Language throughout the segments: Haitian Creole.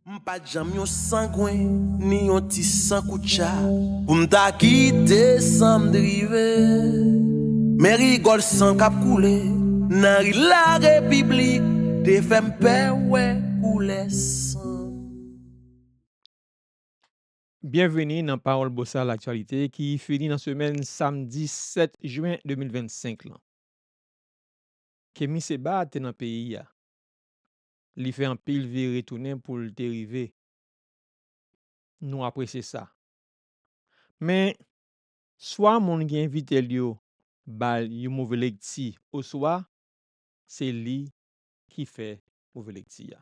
M pa t janm yon sangwen ni yon ti sankoutcha pou m ta kite san m drive Men rigòl san k ap koule nan ri larepiblik te fè m pè wè koulè san m. Byenveni nan Pawòl Bosal Aktyalite ki fini nan semèn samdi 7 jen 2025 lan. Kemi Seba te nan peyi a. Li fè anpil vire tounen pou l te rive. Nou apresye sa. Men, swa moun ki envite l yo ba l yon move lekti oswa se li ki fè move lekti a.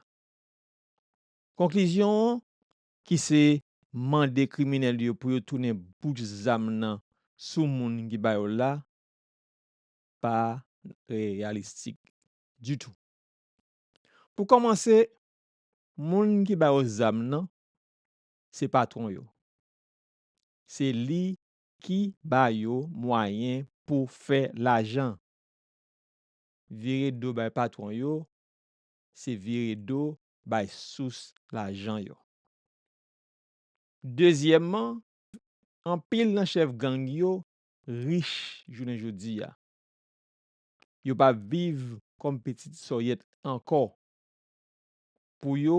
Konklizyon an, ki se mande kriminèl yo pou yo tounen bouch zam nan sou moun ki ba yo l la, pa reyalistik ditou. Pou kòmanse, moun ki ba yo zam nan, se patwon yo. Se li ki ba yo mwayen pou fè lajan. Vire do bay patwon yo, se vire do bay sous lajan yo. Dezyèmman, anpil nan chèf gang yo rich jounen jodi a. Yo pa viv kòm pitit sòyèt ankò. Pou yo,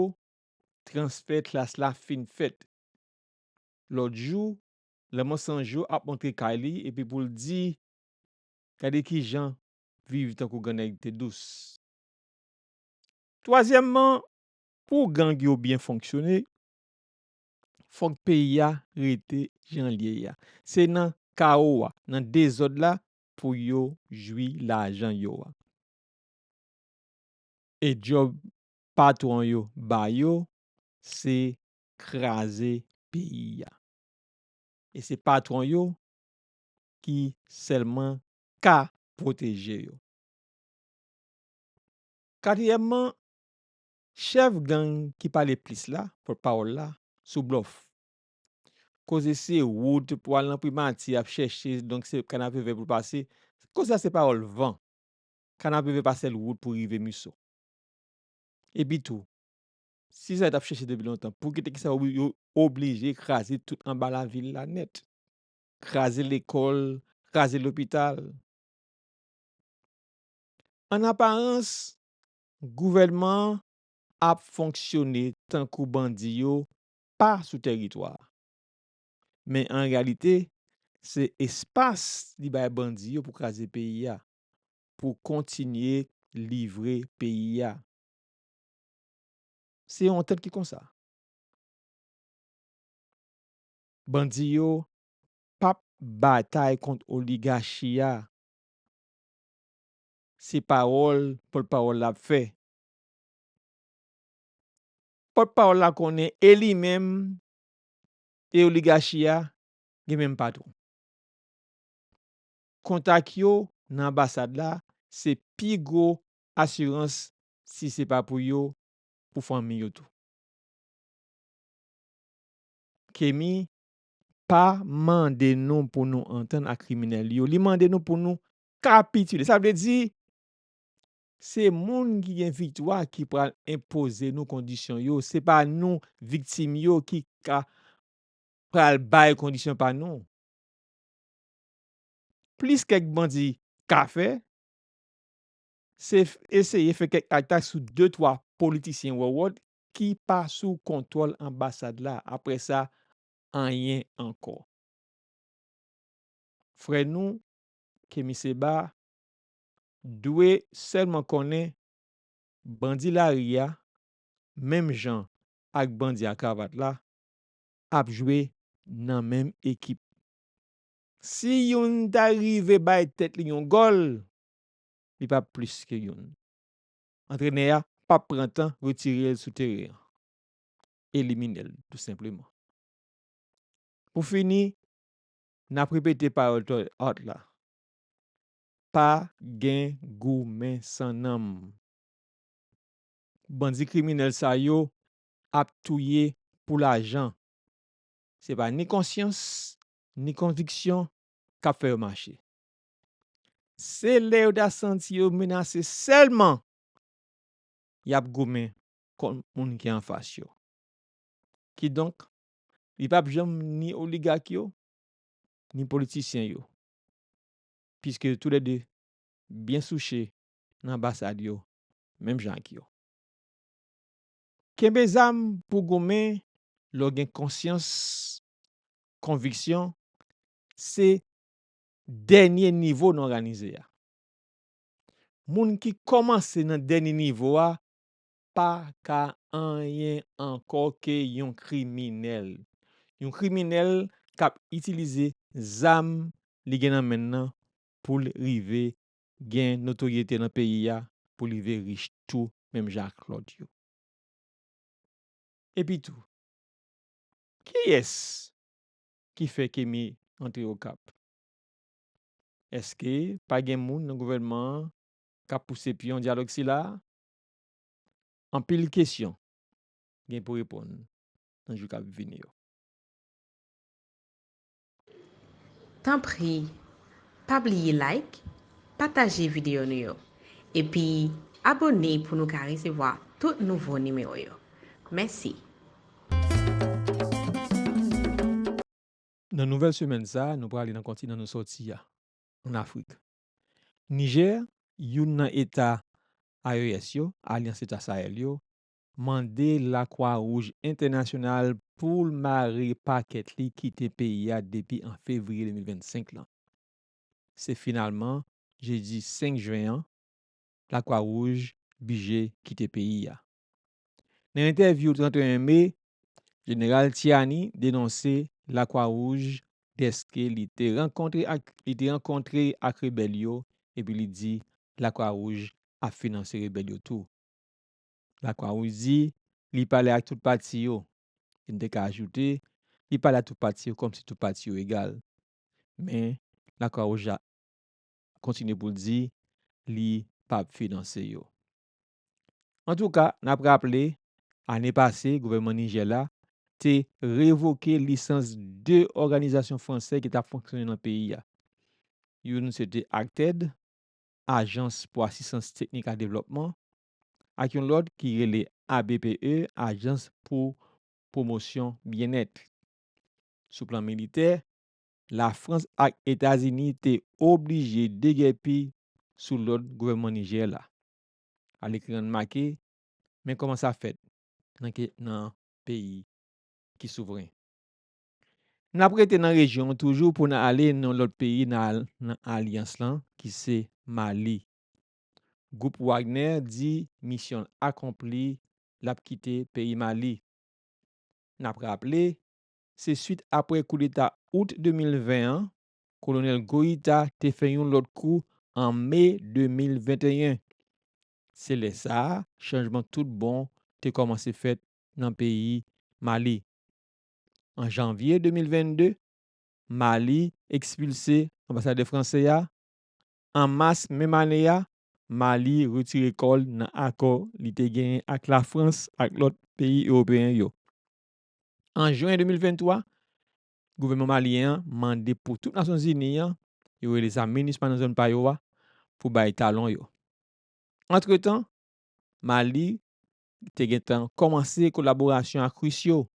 transfè klas la fin fèt. Lòt jou, Lanmò San Jo ap antre kay li epi pou l di, Gade ki jan viv tankou grannèg te dous. Twazyèmman, pou gang yo byen fonksyone, fòk peyi a rete jan l ye a. Se nan kawo a, nan dezòd la, pou yo jwi lajan yo a. E djòb patwon yo ba yo se kraze peyi a. E se patwon yo ki sèlman ka pwoteje yo. Katriyèmman, chèf gang ki pale plis la, pòtpawòl la, sou blòf. Koze se wout pou al nan primati ap chèche donk se kanapevè pou pase, koze a se pawòl van. Kanapevè pa sèl wout pou rive Miso. Epitou, si sa yo t ap chèche depi lontan, pou ki te ki sa yo oblije kraze tout anba lavil la nèt? Kraze lekòl, kraze lopital. An aparans, gouvènman an ap fonksyone tankou bandi yo pa sou tèritwa a. Men an reyalite, se espas li bay bandi yo pou kraze peyi a, pou kontinye livre peyi a. Se yon antant ki konsa. Bandi yo pa p batay kont oligachi a. Se pawòl pòtpawòl la ap fè. Pòt pawòl la konnen e li menm e oligachi a gen menm patwon. Kontak yo nan anbasad la se pi gwo asirans si se pa pou yo, pou fanmi yo tou. Kemi pa mande nou pou nou antann ak kriminèl yo, li mande nou pou nou kapitile. Sa vle di Se moun ki gen viktwa ki pral enpoze nou kondisyon yo, se pa nou, viktim yo, ki ka pral bay kondisyon pa nou. Plis kèk bandi ka fè, se eseye fè kèk atak sou de twa politisyen wòwòt ki pa sou kontwòl anbasad la, apre sa, anyen ankò. Frè nou, Kemi Seba, Dwe sèlman konnen bandi lari a menm jan ak bandi a kravat la ap jwe nan menm ekip. Si youn ta rive bay tèt li yon gòl, li pa p plis ke youn. Antrenè a pa p pran tan retire l sou teren an. Elimine l tou senpleman. Pou fini, n ap repete pawòl Toy Art la, Pa gen goumen san nanm. Bandi kriminèl sa yo ap touye pou lajan. Se pa ni konsyans, ni konviksyon k ap fè yo mache. Se lè yo ta santi yo menase sèlman y ap goumen kont moun ki anfas yo. Kidonk, li pap janm ni oligak yo, ni politisyen yo. piske tou lè 2 byen souche nan anbasad yo menm jan ak yo. Kenbe zam pou w goumen lè w gen konsyans konviksyon se dènye nivo nan òganize a. Moun ki kòmanse nan dènye nivo a pa ka anyen ankò ke yon kriminèl. Yon kriminèl k ap itilize zam li gen nan men l nan pou l rive gen notoryete nan peyi a, pou l rive rich tou menm jan ak lòt yo. Epitou, kiyès ki fè Kemi antre Okap? Èske pa gen moun nan gouvènman an k ap pouse pyon dyalòg sila a? Anpil kesyon gen pou reponn nan jou k ap vini yo. Tanpri pa bliye like, pataje videyo nou yo, epi abone pou nou ka resevwa tout nouvo nimewo yo. Mèsi! Nan nouvèl semèn sa a, nou prale nan kontinan nou sòti a, ann Afrik. Nijè, youn nan eta AES yo, Alyans Eta Sahel yo, mande Lakwa Wouj Entènasyonal pou l mare pakèt li kite peyi a depi an fevriye 2025 lan. Se finalman jedi 5 jen an Lakwa Wouj bije kite peyi a. Nan entèvyou 31 me, Jeneral Tiani denonse Lakwa Wouj dèske li te rankontre ak li te rankontre ak rebèl yo epi li di Lakwa Wouj ap finanse rebèl yo tou. Lakwa Wouj di li pale ak tout pati yo, e n te ka ajoute li pale ak tout pati yo kòmsi tout pati yo egal. Men Lakwa Wouj la kontinye pou l di li pap finanse yo. Antouka, n ap raple, ane pase gouvènman Nijè la te revoke lisans 2 òganizasyon fransè ki t ap fonksyone nan peyi a. Youn se te ACTED, Ajans pou Asistans Teknik ak Devlòpman, ak yon lòt ki rele ABPE, Ajans pou Pwomosyon Byennèt. Sou plan militè, Lafrans ak Etazini te oblije degèpi sou lòd gouvènman Nijè la. al ekri an make men koman sa fèt nan ke nan peyi ki souvren nap rete nan rejyon toujou pou nan ale nan lòt peyi nan al nan alyans lan ki se mali gwoup wagnè di misyonl akonpli lap kite peyi mali nap raple se swit aprè koudeta out 2020 an Kolonèl Goïta te fè yon lòt kou an me 2021. Se lè sa a chanjman tout bon te kòmanse fèt nan peyi Mali. An janvye 2022, Mali ekspilse anbasadè fransè a, an mas menm ane a, Mali retire kò l nan akò li te genyen ak Lafrans ak lòt peyi ewopeyen yo. An jen 2023, Gouvènman malyen an mande pou tout Nasyon Zini an yo rele sa minusma nan zòn pa yo a pou bay talon yo. Antretan, Mali te gen tan kòmanse kolaborasyon ak Ris yo.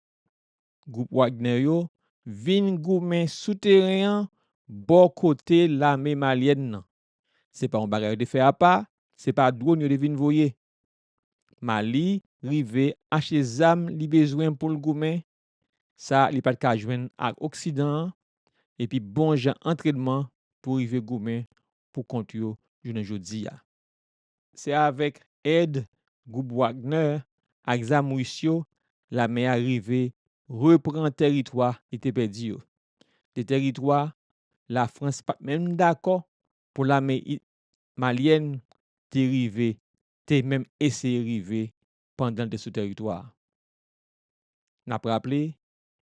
Gwoup Wagner yo vin goumen sou teren an bò kote lame malyèn nan. Se pa yon bagay yo te fè apa, se pa dwòn yo te vin voye. Mali rive achte zam li bezwen pou l goumen sa li pa t ka jwenn ak oksidan an epi bon jan antrènman pou rive goumen pou kont yo jounen jodi a. Se avèk èd gwoup Wagner ak zam ris yo lame a rive repran tèritwa li te pèdi yo, de tèritwa Lafrans pa t menm dakò pou lame malyèn te rive te menm eseye rive pandan l te sou tèritwa a. N ap raple,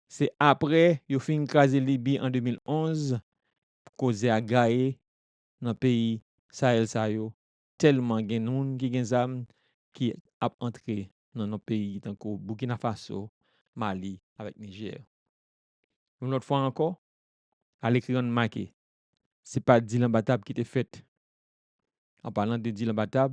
se apre yo fin kraze Libi an 2011 koze a gaye nan peyi Sahel sa yo tèlman gen moun ki gen zam ki ap antre nan nan peyi tankou Burkina Faso, Mali avèk Nijè. Yon lòt fwa ankò, alekri an make, se pa dilanbatab ki te fèt. An palan de dilanbatab,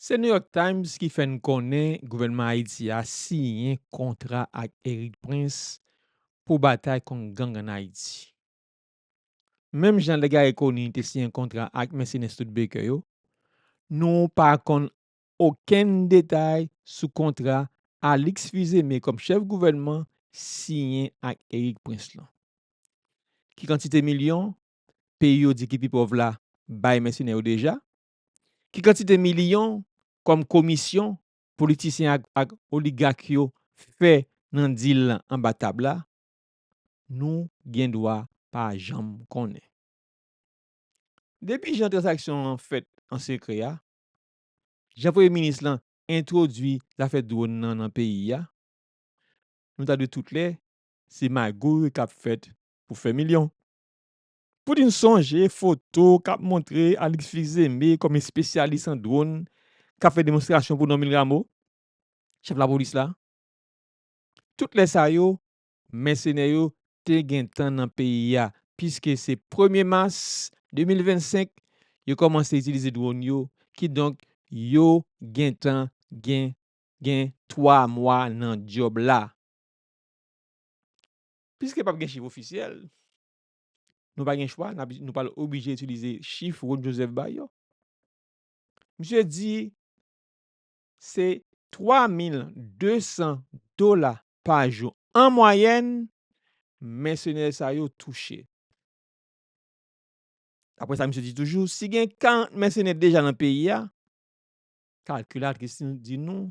Se New York Times ki fè n konnen gouvènman Ayiti a siyen kontra ak Erik Prince pou batay kont gang an Ayiti. Menm jan lè Garry Conille te siyen kontra ak mèsenè Studebaker yo, nou pa konn okenn detay sou kontra Alix Fils-Aimé kòm chèf gouvènman siyen ak Erik Prince lan. Ki kantite milyon peyi yo di ki pi pòv la bay mèsenè yo deja? Ki kantite miliyon kòm komisyon politisyen ak oligak yo fè nan dil lan anba tab la, nou gen dwa pa janm konnen. Depi jan tranzaksyon an fèt an sekrè a, jan premye minis lan entwodui zafè dwòn nan nan peyi a, nou ta dwe tout lè se magouy k ap fèt pou fè milyon. Poutine sonje foto k ap montre Alix Fils-Aimé kòm espesyalis an dwòn k ap fè demonstrasyon pou Normil Rameau, chèf lapolis la. Tout lè sa yo, mèsenè yo te gentan nan peyi a, piske se premye mas 2025 yo kòmanse itilize dwòn yo, kidonk yo gentan gen gen twa mwa nan djòb la. Piske pap gen chif ofisyèl, Nou pa gen chwa, nou pral oblije itilize chif Rod Joseph bay yo. Misye di se 3200 dola pa jou an mwayèn mèsenè sa yo touche. Daprè sa misye di toujou, si gen 40 mèsenè deja nan peyi a, kalkilatris di nou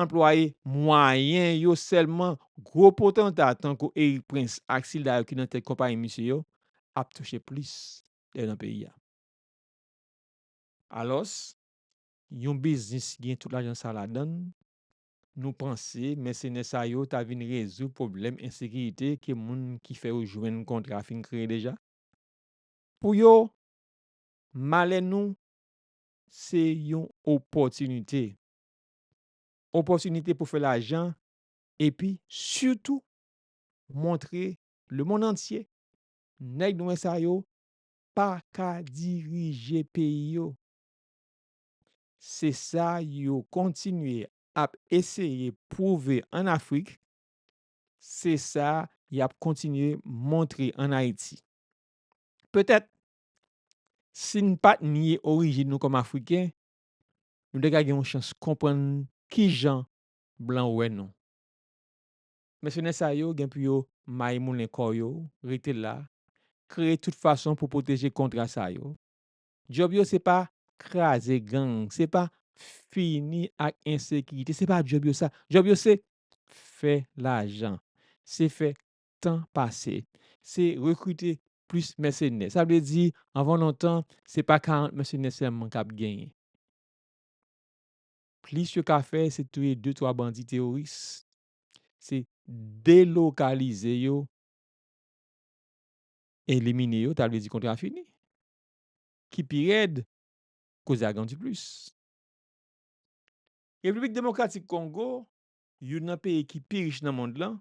Anplwaye mwayen yo sèlman gwo potanta tankou Erik Prens ak sila yo ki nan tèt konpayi misye yo ap touche plis lè nan peyi a. Alòs, yon biznis ki gen tout lajan sa ladan l, nou panse mèsenè sa yo ta vin rezoud pwoblèm ensekirite ke moun ki fè yo jwenn kontra fin kreye deja? Pou yo, malè nou se yon opòtinite. opòtinite pou fè lajan epi sitou montre lemonn antye nèg nwè sa yo pa ka dirije peyi yo. Se sa yo kontinye ap eseye pwouve ann Afrik, se sa y ap kontinye montre ann Ayiti. Petèt, si n pa t nye orijin nou kòm Afriken, nou te ka gen yon chans konprann ki jan blan wè nou. Mèsenè sa yo gen pou yo mayi moulen kò yo, rete la, kreye tout fason pou pwoteje kontra sa yo. Djòb yo se pa kraze gang, se pa fini ak ensekirite, se pa djòb yo sa. Djòb yo se fè lajan, se fè tan pase, se rekrite plis mèsenè. Sa vle di, anvan lontan, se pa 40 mèsenè sèlman k ap genyen. Plis yo ka fè, se touye de twa bandi teworis, se delokalize yo, elimine yo, ta vle di kontra fini. Ki pi rèd, koze a grandi plis. Repiblik Demokratik Kongo, youn nan peyi ki pi rich nan mond lan,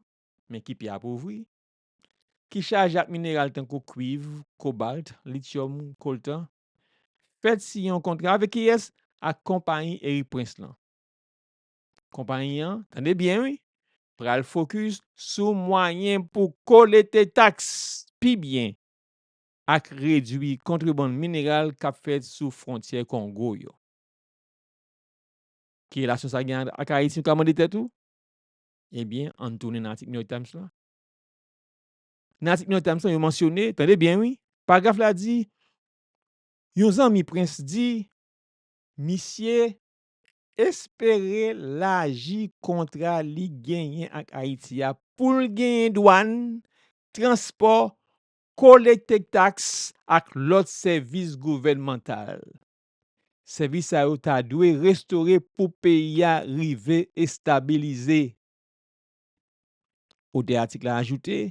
men ki pi apovri, ki chaje ak mineral tankou kwiv, kobalt, lityòm, koltan, fèt siyen yon kontra avèk kiyès? Ak konpayi Erik Prince lan. Konpayi an, tande byen wi, pral fokis sou mwayen pou kolete taks pi byen ak redwi kontrebann mineral k ap fèt sou fwontyè Kongo yo. Ki relasyon sa gen ak Ayiti, ou ka mande tèt ou? Ebyen, an n tounen nan atik New York Times la. Nan atik New York Times la, yo mansyone, tande byen wi, paragraf la di, yon zanmi Prince di, misye, espere laji kontra li genyen ak Ayiti a pou l genyen dwàn, transpò, kolekte taks ak lòt sèvis gouvènmantal. Sèvis sa yo ta dwe restore pou peyi a rive estabilize. Otè atik la ajoute,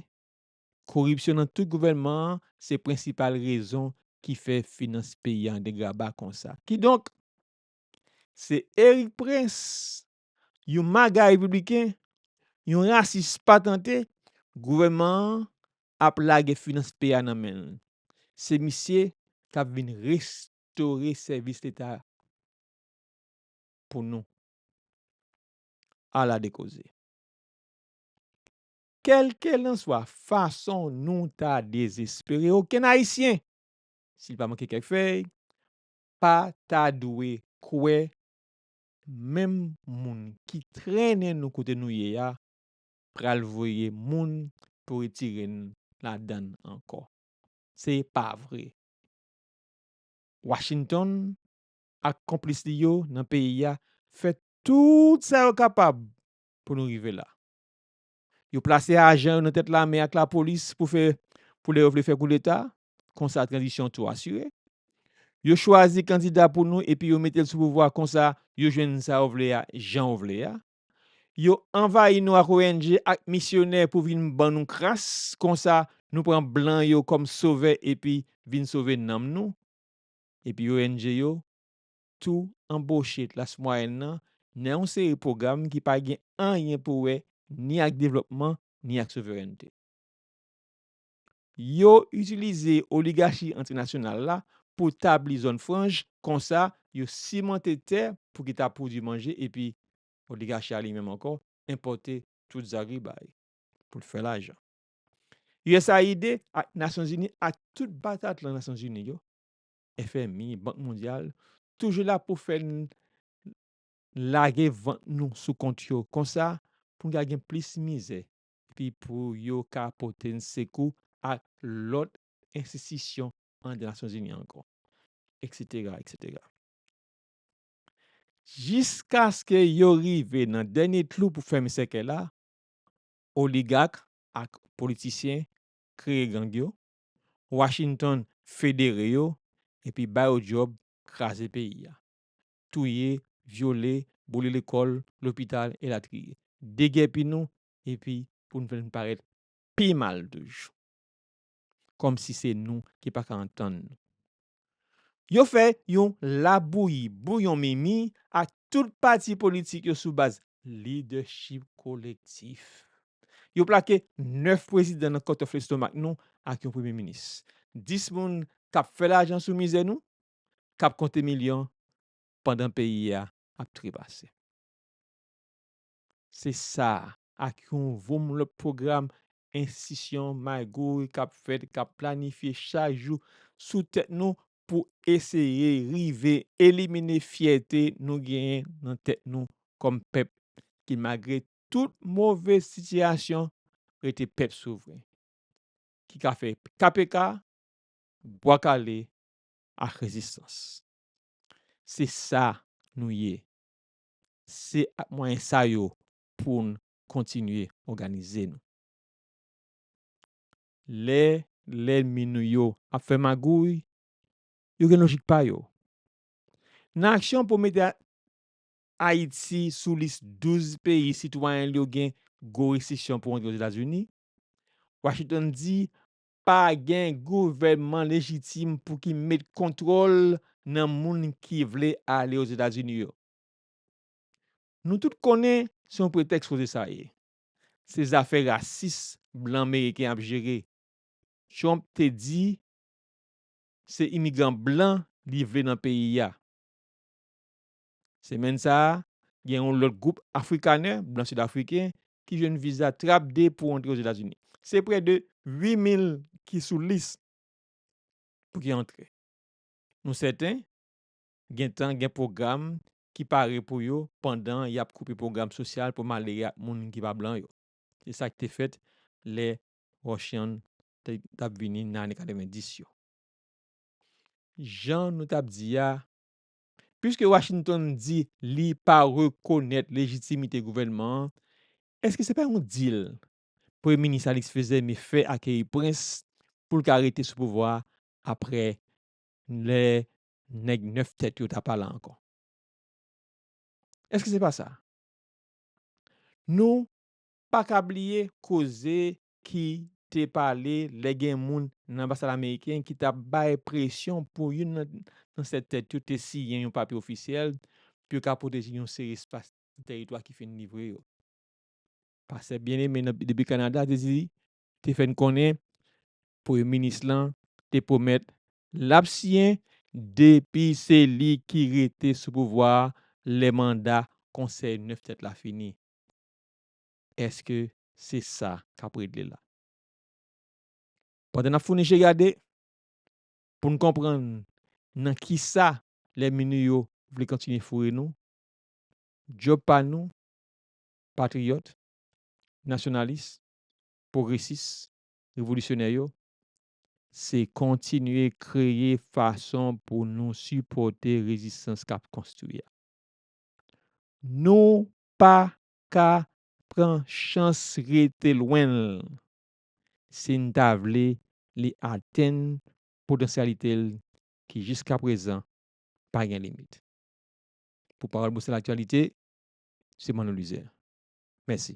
Koripsyon nan tout gouvènman an se prensipal rezon ki fè finans peyi a an degraba konsa. Kidonk, se Erik Prince yon maga repibliken, yon rasis patante, gouvènman an ap lage finans peyi a nan men l. Se misye k ap vin restore sèvis leta pou nou. Ala de koze! Kèlkelanswa fason nou ta dezespere, okenn Ayisyen, si l pa manke kèk fèy, pa ta dwe kwè Menm moun ki trennen nou kote nou ye a pral voye moun pou retire n ladan l ankò. Se pa vre. Washington ak konplis li yo nan peyi a fè tout sa yo kapab pou nou rive la. Yo plase ajan yo nan tèt lame ak lapolis pou fè pou lè yo vle fè koudeta, konsa tranzisyon tou asire. Yo chwazi kandida pou nou epi yo mete l sou pouvwa konsa yo jwenn sa yo vle a jan yo vle a. Yo anvayi nou ak ong ak misyonè pou vin ban nou kras konsa nou pran blan yo kòm sovè epi vin sove nanm nou. Epi ong yo tou anboche klas mwayèn nan nan yon seri pwogram ki pa gen anyen pou wè ni ak devlòpman ni ak souverènte. Yo itilize oligachi entènasyonal la pou tabli zòn franj, konsa yo simante tè pou ki ta pwodwi manje epi oligachi a li menm ankò enpòte tout zagribay pou l fè lajan. Usaid ak Nasyonzini ak tout batatlan Nasyonzini yo, FMI, Bank Mondyal, toujou la pou fè n lage vant nou sou kont yo konsa pou n ka gen plis mizè epi pou yo ka pote n sekou ak lòt enstistisyon an de Nasyonzini ankò, eksetera, eksetera. Jiskaske yo rive nan dènye tlou pou fèmen sèkèy la, oligak ak politisyen kreye gang yo, Washington federe yo epi ba yo djòb kraze peyi a. touye, vyole, boule lekòl, lopital, elatriye. Degèpi nou epi pou n fè n parèt pi mal toujou. Kòmsi se nou ki pa ka antann nou. Yo fè yon labouyi bouyon mimi ak tout pati politik yo sou baz lidèchip kolektif. Yo plake 9 prezidan nan kòtòf lestomak nou ak yon premye minis. 10 moun k ap fè lajan sou mizè nou, kap konte milyon pandan peyi a ap trepase. Se sa ak yon voum lòt pwogram enstisyon magouy kap fèt, kap planifye chak jou sou tèt nou pou eseye rive elimine fyète nou genyen nan tèt nou kòm pèp ki malgre tout move sitiyasyon rete pèp souvren ki ka fè KPK, Bwa Kale ak rezistans. Se sa nou ye. Se ak mwayen sa yo pou n kontinye òganize nou. Lè lènmi nou yo ap fè magouy, yo gen lojik pa yo. Nan aksyon pou mete Ayiti sou lis 12 peyi sitwayen l yo gen gwo restriksyon pou antre Ozetazini, Washington di Pa gen gouvènman lejitim pou ki met kontwòl nan moun ki vle ale Ozetazini yo. Nou tout konnen se yon pretèks koze sa ye. Se zafè rasis blan meriken ap jere. Trump te di se imigran blan li vle nan peyi a. Semèn sa a, gen yon lòt gwoup afrikanè, blan sidafriken, ki jwenn viza trap de pou antre Ozetazini. Se prè de 8 mil ki sou lis pou ki antre. Nou sèten gentan gen pwogram ki pare pou yo pandan y ap koupe pwogram sosyal pou malere ak moun ki pa blan yo. Se sa ki te fèt lè Rushian te t ap vini nan ane 90 yo. Jan nou t ap di a, Piske Washington di li pa rekonèt lejitimite gouvènman an, èske se pa yon dil Premye Minis Alix Fils-Aimé fè ak Eyprince pou l ka rete sou pouvwa a apre lè nèg 9 tèt yo ta pa la ankò? Èske se pa sa? Nou pa ka bliye koze ki te pale lè gen moun nan anbasad ameriken ki t ap bay presyon pou youn nan 7 tèt yo te siyen yon papye ofisyèl pou yo ka pwoteje yon seri espas nan teritwa ki fin livre yo. Pastè Bien-Aimé nan depi Kanada te di te fè n konnen premye minis lan te pwomèt l ap siyen depi se li ki rete sou pouvwa a lè manda konsèy 9 tèt la fini. Èske Se sa k ap regle la. Pandan n ap founi je gade pou n konprann nan ki sa lènmi nou yo vle kontinye foure nou, djòb pa nou, patriyòt, nasyonalis, pwogresis, revolisyonè yo, se kontinye kreye fason pou nou sipòte rezistans k ap konstwi a. Nou pa ka pran chans rete lwen l si n ta vle li atenn potansyalite l ki jiskaprezan pa gen limit. Pou Pawòl Bousòl Aktyalite, se Manno Lizè. Mèsi.